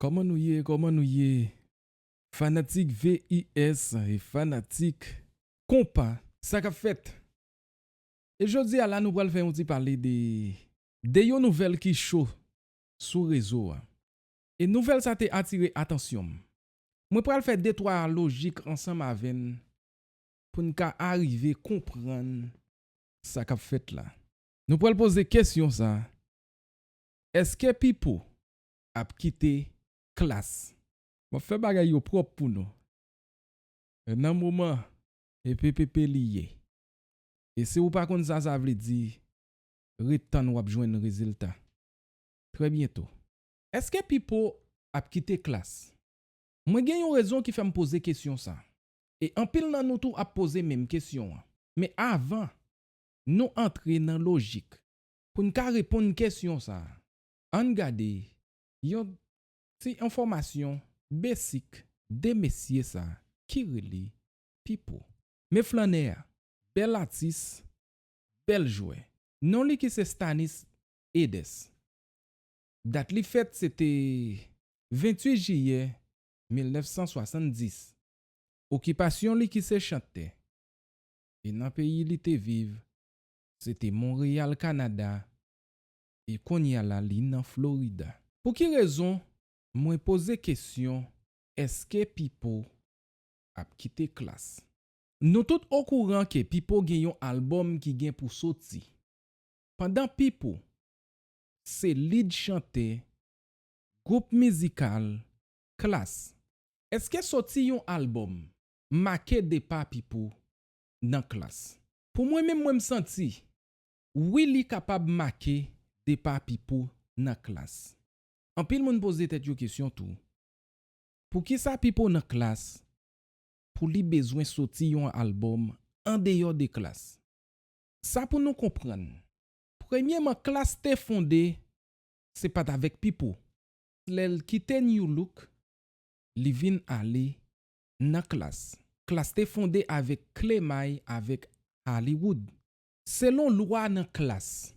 Koman nou ye koman nou ye fanatik VIS e fanatik konpa. Sa kap fèt? E jodi a la nou pral fè yon ti pale de de yon nouvèl ki cho sou rezo a. E nouvèl sa te atire atansyon'm Mwen pral fè de twa lojik ansanm avè n pou n ka arive konprann sa k ap fèt la. Nou pral poze kesyon sa, Èske Pipo ap kite klas? M ap fè bagay yo pwòp pou nou. Nan moman ppp li ye. E si ou pa konn sa sa vle di, ret tann w ap jwenn rezilta. Trè byento. Eske Pipo ap kite Klass? Mwen gen yon rezon ki fè m poze kesyon sa. E anpil nan nou tou ap poze menm kesyon an. Men avan Nou antre nan lojik pou n ka reponn kesyon sa, ann gade yon Ti enfòmasyon besik de mesye sa ki rele Pipo. Men flannè a, bèl atis, bèl jwè. Non li ki se Stanis Edes. Dat li fèt se te 28 jiyè 1970. Okipasyon li ki se chantè, e nan peyi li te viv se te Monreyal Kanada e konnya la li nan Florida. Pou ki rezon mwen poze kesyon eske Pipo ap kite klass? Nou tout okouran ke Pipo gen yon album ki gen pou soti. Pandan Pipo se lead chantè gwoup mizikal Klass. Eske soti yon albòm make depa Pipo nan Klass? Pou mwen menm mwen m santi wi li kapab make depa Pipo nan Klass. Anpil moun poze tèt yo kesyon tou, poukisa Pipo nan Klass pou li bezwen soti yon albòm andeyò de Klass? Sa pou nou konprann Premyeman klass te fonde se pat avèk pipo. Lèl kite new look li vin ale nan klass. Klass te fonde avèk kle may avèk Hollywood. Selon lwa nan klass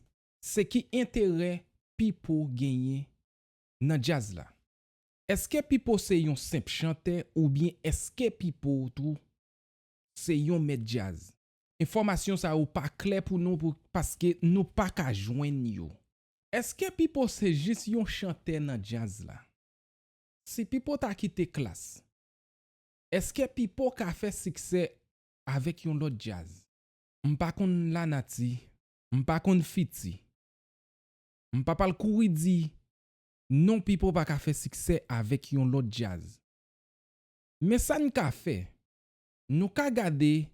se ki enterè pipo genyen nan djaz la? Eske pipo se yon senp chantè oubyen eske pipo tou se yon mèt djaz? Enfòmasyon sa yo pa klè pou nou pou paske nou pa ka jwenn yo. Eske Pipo se jis yon chantè nan djaz la? Si Pipo ta kite Klass, eske Pipo ka fè siksè avèk yon lòt djaz? M pa konn lanati, m pa konn fiti. M pa pral kouri di non Pipo pa ka fè siksè avèk yon lòt djaz. Men sa n ka fè, Nou ka gade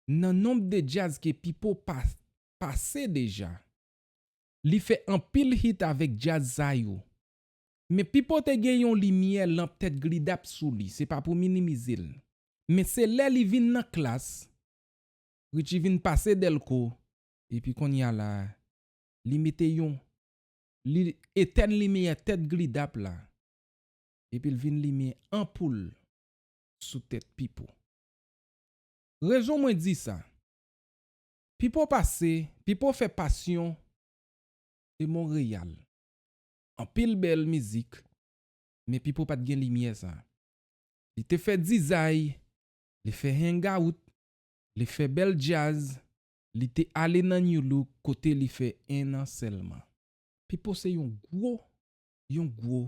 Nan nomb de djazz ke Pipo pase deja Li fè anpil hit avèk djazz sa yo Men Pipo te gen yon limyè lanp tèt glidap sou li se pa pou minimize l Men se lè li vin nan klass Richie vin pase Delco Epi konnya la Li mete yon Li etèn limyè tèt glidap la Epi l vin limen anpoul. sou tèt Pipo. Rezon mwen di sa, Pipo pase, Pipo fè passion de Montréal. Anpil bèl mizik, men Pipo pat gen limyè sa. Li te fè dizay, li fè hangout, li fè bèl djaz, li te ale nan Nu Look kote li fè 1 an sèlman. Pipo se yon gwo, yon gwo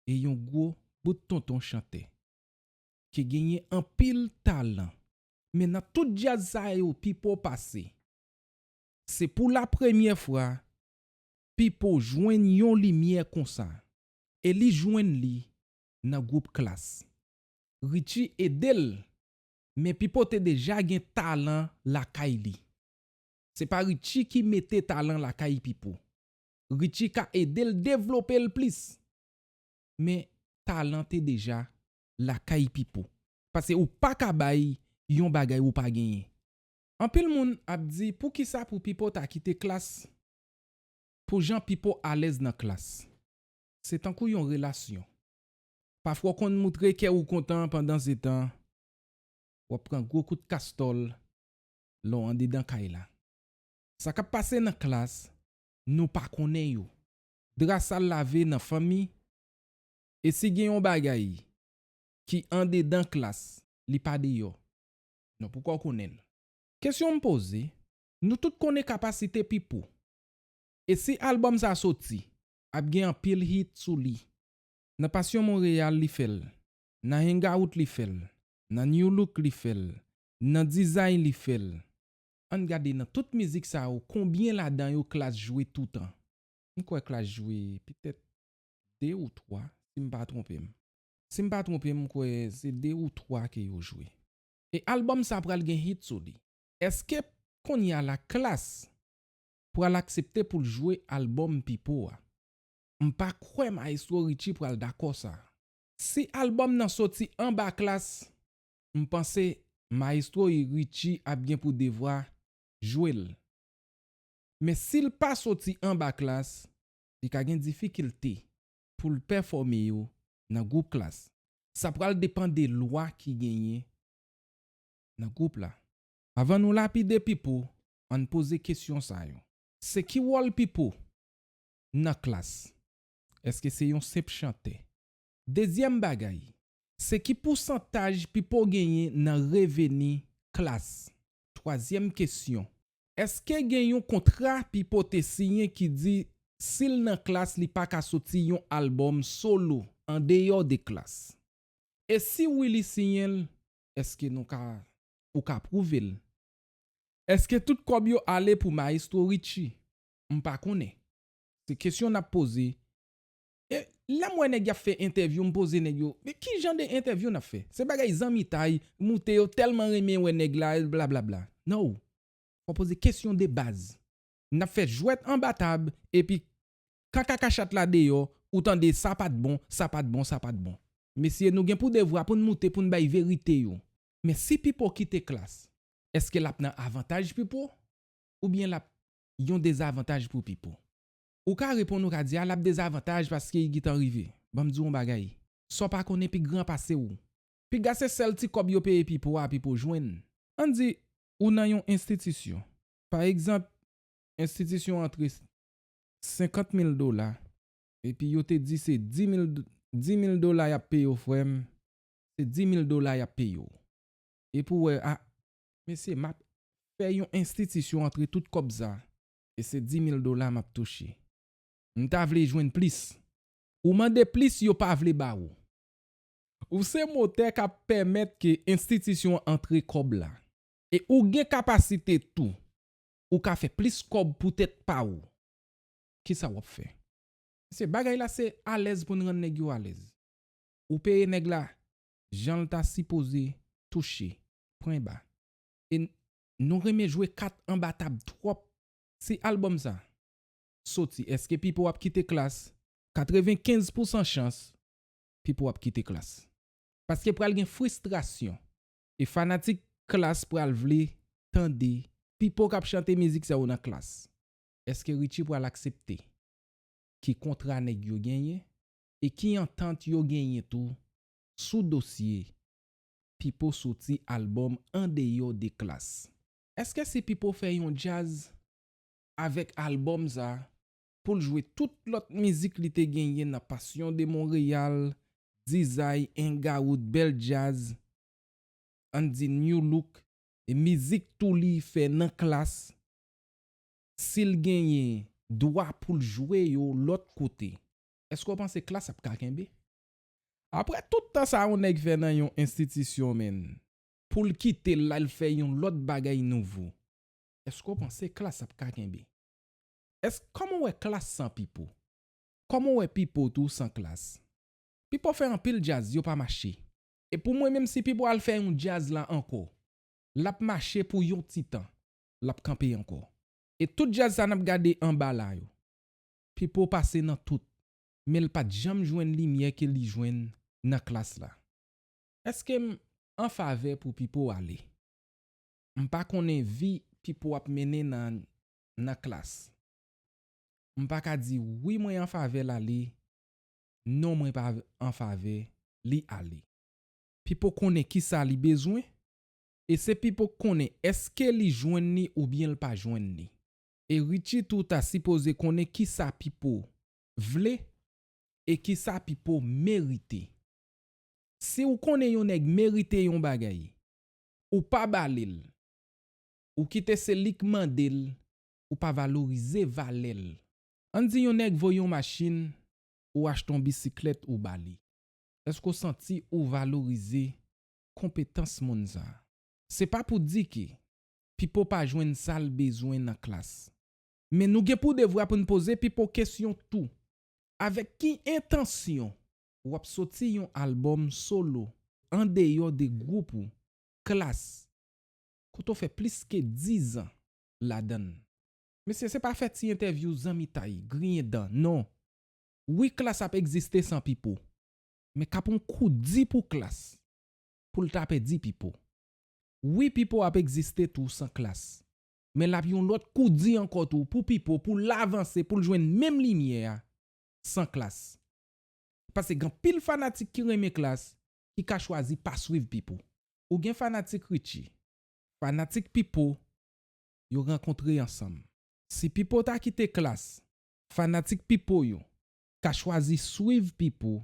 e yon gwo bout tonton chantè ki genyen anpil talan men nan tout djaz sa yo Pipo pase se pou la premyè fwa Pipo jwenn yon limyè konsa e li jwenn li nan gwoup Klass Richie ede l men Pipo te deja gen talan lakay li se pa Richie ki mete talan lakay Pipo Richie ka ede l devlope l plis. Men talan te deja lakay Pipo. Pase ou pa ka bay yon bagay ou pa genyen. Anpil moun ap di pou kisa pou Pipo ta kite klas pou jan Pipo alèz nan klas. Se tankou yon relasyon. Pafwa w konn moutre kè ou kontan pandan se tan w ap pran gwo kout kastòl lè w andedan kay la. Sa k ap pase nan klas nou pa konnen yo. Dra sal lave nan fanmi e si gen yon bagay ki andedan klas li pa deyò non poukò w konnen l. Kesyon m poze, nou tout konnen kapasite Pipo e si albòm sa soti ap gen anpil hit sou li. Nan Passion Montréal li fè l, nan Hangout li fè l, nan Nu Look li fè l, nan Dizay li fè l. Ann gade nan tout mizik sa yo konbyen ladan yo Klass jwe toutan? M kwè Klass jwe petèt 2 ou 3 si m pa twonpe m. Si m pa twonpe m m kwè se 2 ou 3 ke yo jwe. E album sa pral gen hit sou li. Eske konnya la Klass pral aksepte pou l jwe album Pipo a? M pa kwè Maestro Richie pral dakò sa. Si album nan soti anba Klass M panse maestro y Richie ap gen pou devwa jwe l. Men si l pa soti anba klass li ka gen difikilte pou l pèfòme yo nan gwoup klass. Sa pral depan de lwa ki genyen nan gwoup la. Avan nou lapide Pipo an n poze kesyon sa yo. Se ki wòl Pipo nan klass? Eske se yon senp chantè? Dezyèm bagay, se ki pousantaj pipo genyen nan reveni klas. Twazyèm kesyon, èske gen yon kontra pipo te siyen ki di si l nan klas li pa ka soti yon albòm solo an deyò de klas? E si wi li siyen l, èske nou ka ou ka pwouve l? Èske tout kòb yo ale pou Maestro Richie? M pa konnen. Se kesyon n ap poze Lèm wè nèg yap fè entèvyou m poze nèg yo men kijan de entèvyou nap fè se bagay zanmitay moute yo tèlman renmen wè nèg la blablabla no fò poze kesyon de baz nap fè jwèt anba tab epi kan kaka chat la deyò ou tande sa pat bon sa pat bon sa pat bon mesye nou gen pou devwa poun moute poun bay verite yo men si pipo kite klass eske lap nan avantaj pipo oubyen lap yon dezavantaj pou pipo. Ou ka reponn ou ka di a lap dezavantaj paske i gitan rive. Banm diw on bagay. Saw pa konnen pi gran pasew. Piga se sèl ti kòb yo peye pipo a pipo jwenn. An di ou nan yon enstitisyon. Pa egzanp enstitisyon antre 50 mil dola epi yo te di se 10 mil 10 mil dola yap peyew frèm se 10 mil dola yap peyew. Epi ou wè a mesye map fè yon enstitisyon antre tout kòb sa e se 10000 dola map touche m ta vle jwenn plis ou mande plis yo pa vle ba ou. Ou se motè kap pèmèt ke enstitisyon an antre kòb la e ou gen kapasite tou ou ka fè plis kòb pou tèt pa ou kisa wap fè? Mesye bagay la se alèz poun rann nèg yo alèz ou peye nèg la janl ta sipoze touche pwen ba e Nou renmen jwe kat anba tab twòp. Si album sa Soti eske pipo ap kite klass 95 pousan chans pipo ap kite klass paske pral gen fristrasyon e fanatik klass pral vle tande pipo kap chante mizik sa yo nan klass eske Richie pral aksepte ki kontra nèg yo genyen e ki antant yo genyen tou sou dosye Pipo soti album andeyò de klas. Eske si Pipo fè yon djaz avek album sa poul jwe tout lot mizik li te genyen nan passion de Montreal, dizay, engarout, bel djaz, ann di new look, e mizik tou li fè nan klas sil genyen dwa poul jwe yo lot kote eske w panse klas ap ka kenbe? Aprè tout tan sa yon nèg fè nan yon enstitisyon menn. Pou l kite l la l fè yon lòt bagay nouvo. Èske w panse Klass ap ka kenbe? Èske kòman w wè Klass san Pipo? Kòman w wè Pipo tou san Klass? Pipo fè anpil djaz yo pa mache. E pou mwen menm si Pipo al fè yon djaz la ankò, l ap mache pou yon ti tan, l ap kanpe ankò. E tout djaz sa n ap gade anba la yo. Pipo pase nan tout. men l pa t janm jwenn limyè ke li jwenn nan klas la. Eske m an favè pou Pipo ale? M pa konnen vi Pipo ap mennen nan nan klas. M pa ka di wi mwen an favè l ale, non mwen pa an favè li ale. Pipo konnen kisa li bezwen, e se Pipo k konnen eske li jwenn ni oubyen l pa jwenn ni. E Ritchie tou ta sipoze konnen kisa Pipo vle e kisa Pipo merite. Si ou konnen yon nèg merite yon bagay, ou pa ba li l, ou kite se li k mande l, ou pa valorize valè l. Ann di yon nèg vo yon machin, ou achte yon bisiklèt ou ba li. Èske ou santi ou valorize konpetans moun sa a? Se pa pou di ke Pipo pa jwenn sa l bezwen nan klas. Men nou gen pou devwa pou n poze pipo kesyon tou. Avèk ki entansyon w ap soti yon albòm solo andeyò de gwoup ou, Klass, kote w fè plis ke dizan ladan l? Mesye, se pa fè ti entèvyou zanmitay, griyen dan, non! Wi Klass ap egziste san Pipo, men k ap yon kou di pou Klass pou l ta pèdi Pipo. Wi Pipo ap egziste tou san Klass, men l ap yon lòt kou di ankò tou pou Pipo pou l avanse pou l jwenn menm limyè a san Klass. Pase gen anpil fanatik ki renmen Klass ki ka chwazi pa swiv Pipo. Ou gen fanatik Richie, fanatik Pipo, yo rankontre ansanm. Si Pipo ta kite Klass, fanatik Pipo yo ka chwazi swiv Pipo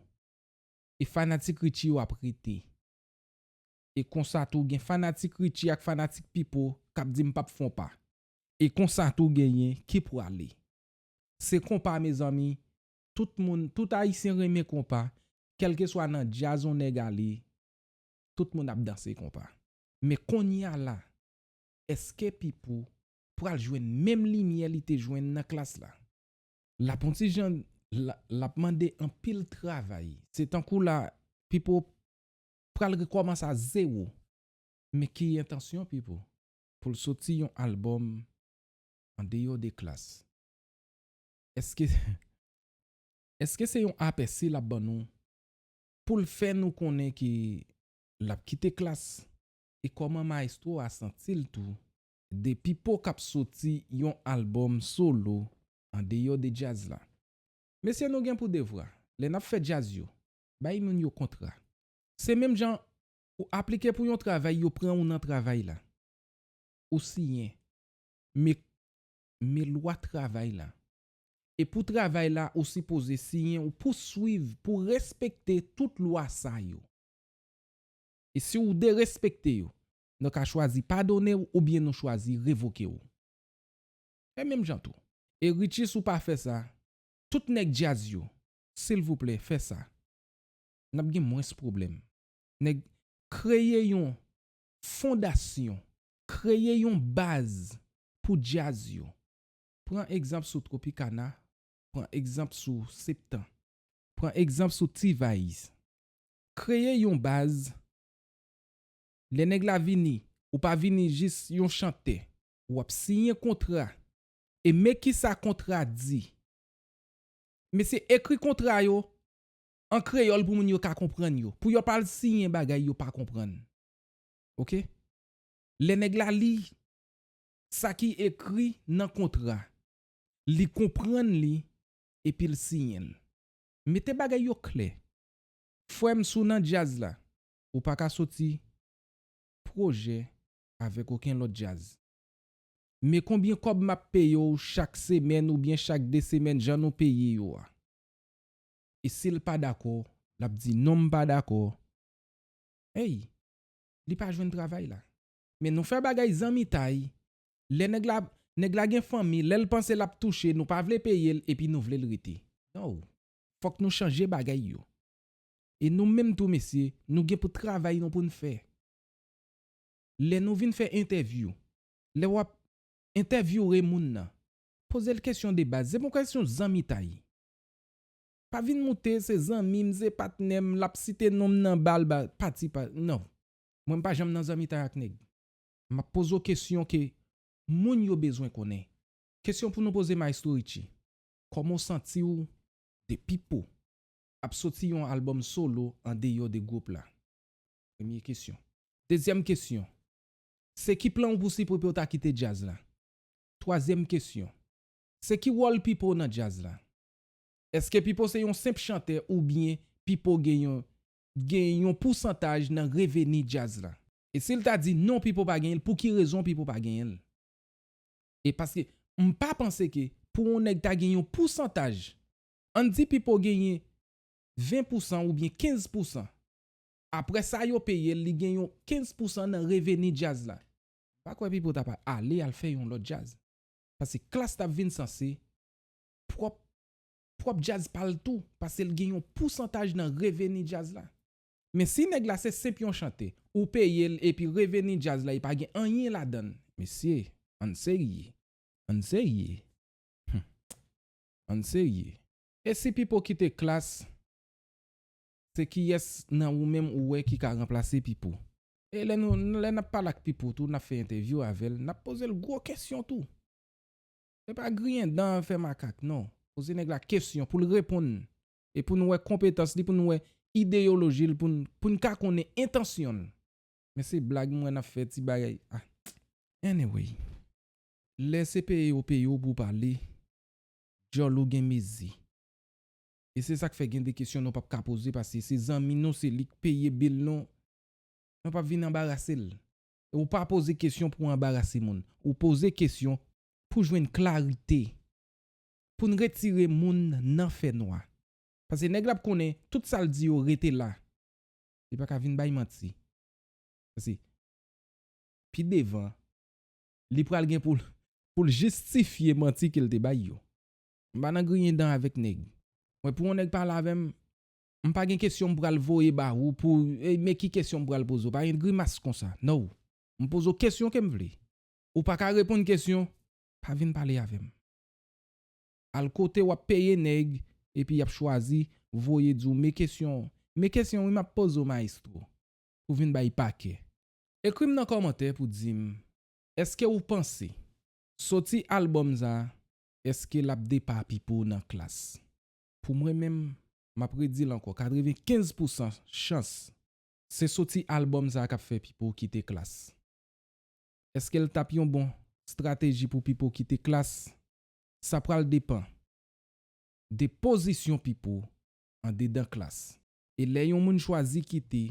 e fanatik Richie yo ap rete. E konsa tou gen fanatik Richie ak fanatik Pipo kap di m pap fon pa. E konsa tou genyen ki prale. Se konpa mezanmi, tout moun, tout ayisyen renmen konpa, kèlkeswa nan djaz on nèg ale, tout moun ap danse konpa. Men konnya la, eske Pipo pral jwenn menm limyè li te jwenn nan klas la? Lap on ti jan, lap mande anpil travay. Se tankou la, Pipo pral rekòmanse a zewo. Men ki entansyon Pipo pou l soti yon albòm andeyò de klas. Eske Eske se yon apèsi l ap ban nou pou l fè nou konnen ke l ap kite klas e kòman mayestwo a santi l tou de Pipo k ap soti yon albòm solo andeyò de djaz la? Mesye nou gen pou devwa lè n ap fè djaz yo Bay moun yo kontra. Se menm jan Ou aplike pou yon travay yo pran ou nan travay la. Ou siyen. Me Me lwa travay la. E pou travay la ou sipoze siyen ou pou swiv pou respekte tout lwa sa yo. E si ou derespekte yo, nou ka chwazi padone ou oubyen nou chwazi revoke ou. Fè menm jan tou. E Richie si w pa fè sa, tout nèg djaz yo, silvouplè fè sa nap gen mwens pwoblèm nèg kreye yon fondasyon kreye yon baz pou djaz yo pran egzanp sou tropicana pran egzanp sou septan pran egzanp sou t-vice kreye yon baz lè nèg la vini ou pa vini jis yon chantè wap siyen kontra e men kisa kontra di Mesye ekri kontra yo an kreyòl pou moun yo ka konprann yo, pou yo pa al siyen bagay yo pa konprann ok. Lè nèg la li sa ki ekri nan kontra, li konprann li epi l siyen l. Mete bagay yo klè. Frè m si w nan djaz la, ou pa ka soti pwojè avèk oken lòt djaz. Men konbyen kòb map peye w chak semèn oubyen chak 2 semèn jan nou peye yo a. E si l pa dakò, lap di non m pa dakò. Ey! Li pa jwenn travay la. Men nou fè bagay zanmitay. Lè nèg la, nèg la gen fanmi, lè l panse lap touche nou pa vle peye l epi nou vle l rete. No! Fòk nou chanje bagay yo. E nou menm tou mesye, nou gen pou travay nou pou n fè. lè nou vin fè entèvyou, lè w ap entèvyoure moun nan, poze l kesyon de baz. Se pa yon kesyon zanmitay. Pa vin moute se zanmi m, se patnè m, l ap site non m nan ba l pati pa. Non. Mwen m pa janm nan zanmitay ak nèg. M ap poze w kesyon ke moun yo bezwen konnen. Kesyon pou nou poze Maestro Richie, Kòman w santi w de Pipo ap soti yon albòm solo andeyò de gwoup la? Premye kesyon. Dezyèm kesyon. Se ki plan w pou si Pipo ta kite djaz la? Twazyèm kesyon. Se ki wòl Pipo nan djaz la? Eske Pipo se yon senp chantè oubyen Pipo gen yon gen yon pousantaj nan reveni djaz la? E si l ta di non Pipo pa genyen l, pou ki rezon Pipo pa genyen l? E paske m pa panse ke pou yon nèg ta gen yon pousantaj, an n di Pipo genyen 20 pousan oubyen 15 pousan Aprè sa yo peye l li gen yon 15 pousan nan reveni djaz la. M pa kwè Pipo ta pa ale al fè yon lòt djaz. Pase Klass t ap vin sanse pwòp pwòp djaz pa l tou pase l gen yon pousantaj nan reveni djaz la. Men si nèg la se senp yon chante ou peye l epi reveni djaz la e pa gen anyen ladan l. Mesye, ann serye. Ann serye. Humm. Ann serye. E si Pipo kite Klass Se kiyès nan ou menm ou wè ki ka ranplase Pipo? E lè nou, lè n ap pale ak Pipo tou, n ap fè entèvyou avè l, n ap poze l gwo kesyon tou. Se pa griyen dan, fè makak, non. Poze nèg la kesyon pou l reponn e pou n wè konpetans li, pou n wè ideyoloji l, pou n, pou n ka konnen entansyon l. Men se blag m wè n ap fè, ti bagay, ah. Anyway, lè se peye yo peye w pou w pale, djòl ou gen mezi. E se sak fè gen de kesyon nou pap ka poze paske se zanmi nou se lik peye bill nou nou pap vin anbarasel e ou pa poze kesyon pou anbarase moun ou poze kesyon pou jwenn klarite poun retire moun nan fè nwa paske nèg la ap konnen tout sal di yo rete la li paka vin bay manti paske pi devan li pral gen poul poul jistifye manti kel te bay yo. M pa nan griyen dan avèk nèg. Mwen pou yon nèg pale avè m, m pa gen kesyon m pral voye ba ou pou e men ki kesyon m pral poze w. Pa gen grimas konsa. No. M poze w kesyon ke m vle. Ou pa ka reponn kesyon, pa vin pale avè m. Al kote w ap peye nèg epi y ap chwazi voye di w men kesyon men kesyon wi m ap poze w maestro. Pou vin bay pakè. Ekri m nan kòmantè pou di m èske ou panse soti albòm sa Eske lap depa Pipo nan klas? Pou mwen menm, map redil ankò 95 pou san chans se soti album sa kap fè Pipo kite klas. Eskel tap yon bon strateji pou Pipo kite klas? Sa pral depan de pozisyon Pipo andedan klas. E lè yon moun chwazi kite,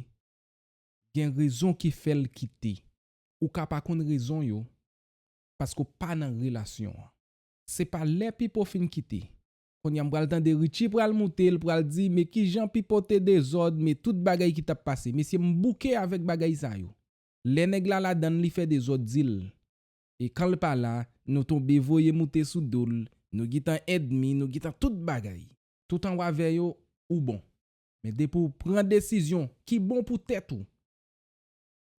gen rezon ki fèl kite. Ou ka pa konn rezon yo, paske w pa nan relasyon an. Se pa lè Pipo fin kite. Konnya m pral tande Richie pral moute l pral di me kijan Pipo te dezòd me tout bagay ki tap pase mesye m bouke avèk bagay sa yo. Lè nèg la ladan l li fè dezòd di l e kan l pa la nou tonbe voye moute sou do l nou gintan èdmi nou gintan tout bagay. Toutan w avè yo ou bon. Men depi w pran desizyon ki bon pou tèt ou.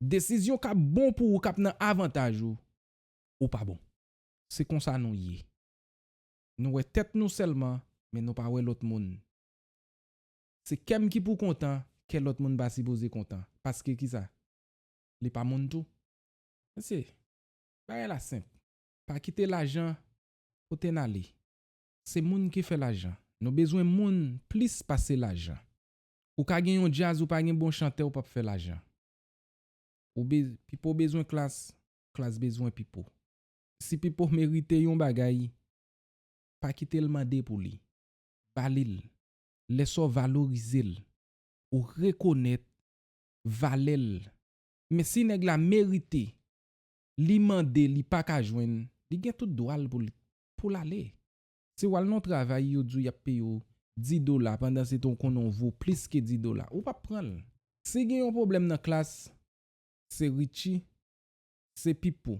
Desizyon kap bon pou ou kap nan avantaj ou ou pa bon. Se konsa nou ye. Nou wè tèt nou sèlman men nou pa wè lòt moun. Se kèm ki pou kontan kè lòt moun pa sipoze kontan paske kisa li pa moun tou. Mesye, bagay la senp. Pa kite lajan pote n ale. Se moun ki fè lajan. Nou bezwen moun plis pase lajan. Ou ka gen yon djaz ou pa gen bon chantè ou pap fè lajan. Ou be pipo bezwen klass klass bezwen pipo. Si pipo merite yon bagay pa kitel mande pou li. Ba li l. Lè sa w valorize l ou rekonèt valè l. Men si nèg la merite li mande li paka jwenn li gen tout dwa l pou l pou l ale. Si wal non travay yo diw yap peye w 10 dola pandan se ton konnen w vo plis ke 10 dola ou pap pran l. Si gen yon pwoblèm nan klas se Richie se Pipo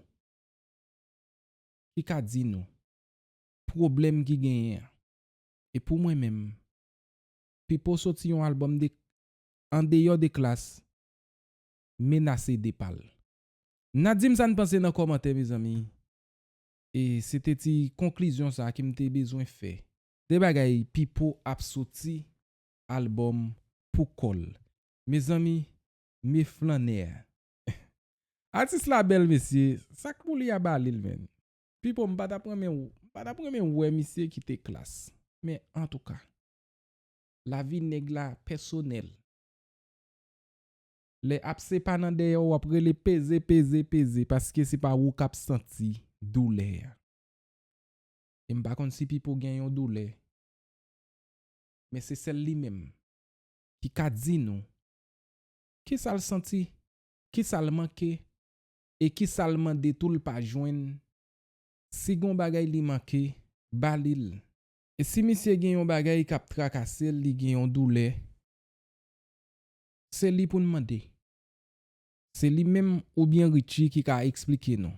ki ka di nou pwoblèm ki genyen an. E pou mwen menm Pipo soti yon album de andeyò de klas menase depa l. Na dim sa n panse nan kòmantè mezanmi E se te ti konklizyon sa ke m te bezwen fè. De bagay Pipo ap soti album pou kò l. Mezanmi me flannè a. Atis la bèl mesye, sa k pou li a ba li l menn. Pipo m pa t ap renmen w, m pa t ap renmen wè misye kite Klass. Men antouka. Lavi nèg la pèsonèl. Lè ap se pa nan dèyè wap rele peze peze peze paske se pa wou kap santi doulè a. E m pa konn si Pipo gen yon doulè. Men se sèl li menm ki ka di nou kisa l santi, kisa l manke e kisa l mande tou l pa jwenn. Si gon bagay li manke, ba li l. E si misye gen yon bagay kap trakase l, li gen yon doulè. Se li pou n mande. Se li menm oubyen Richie ki ka eksplike nou.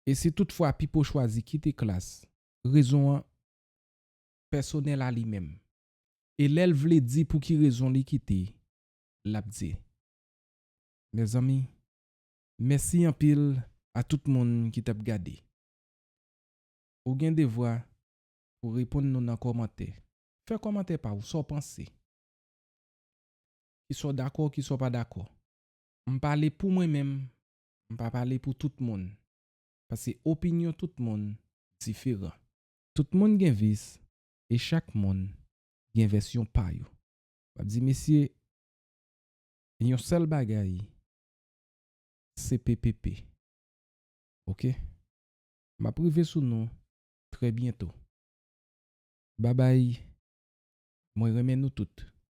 E si tout fwa Pipo chwazi kite klas, rezon an pèsonèl a li menm. E lè l vle di pou ki rezon li kite, l ap di. Mezanmi, mèsi anpil a tout moun ki t ap gade. Ou gen devwa pou reponn nou nan kòmantè. Fè kòmantè pa ou, sa w panse. ki sa w dakò ki sa w pa dakò m pale pou mwen menm m pa pale pou tout moun pase opinyon tout moun diferan. Tout moun gen vis e chak moun gen vèsyon pa yo m ap di mesye yon sèl bagay cppp ok m ap rive sou nou trè byento babay mwen renmen nou tout.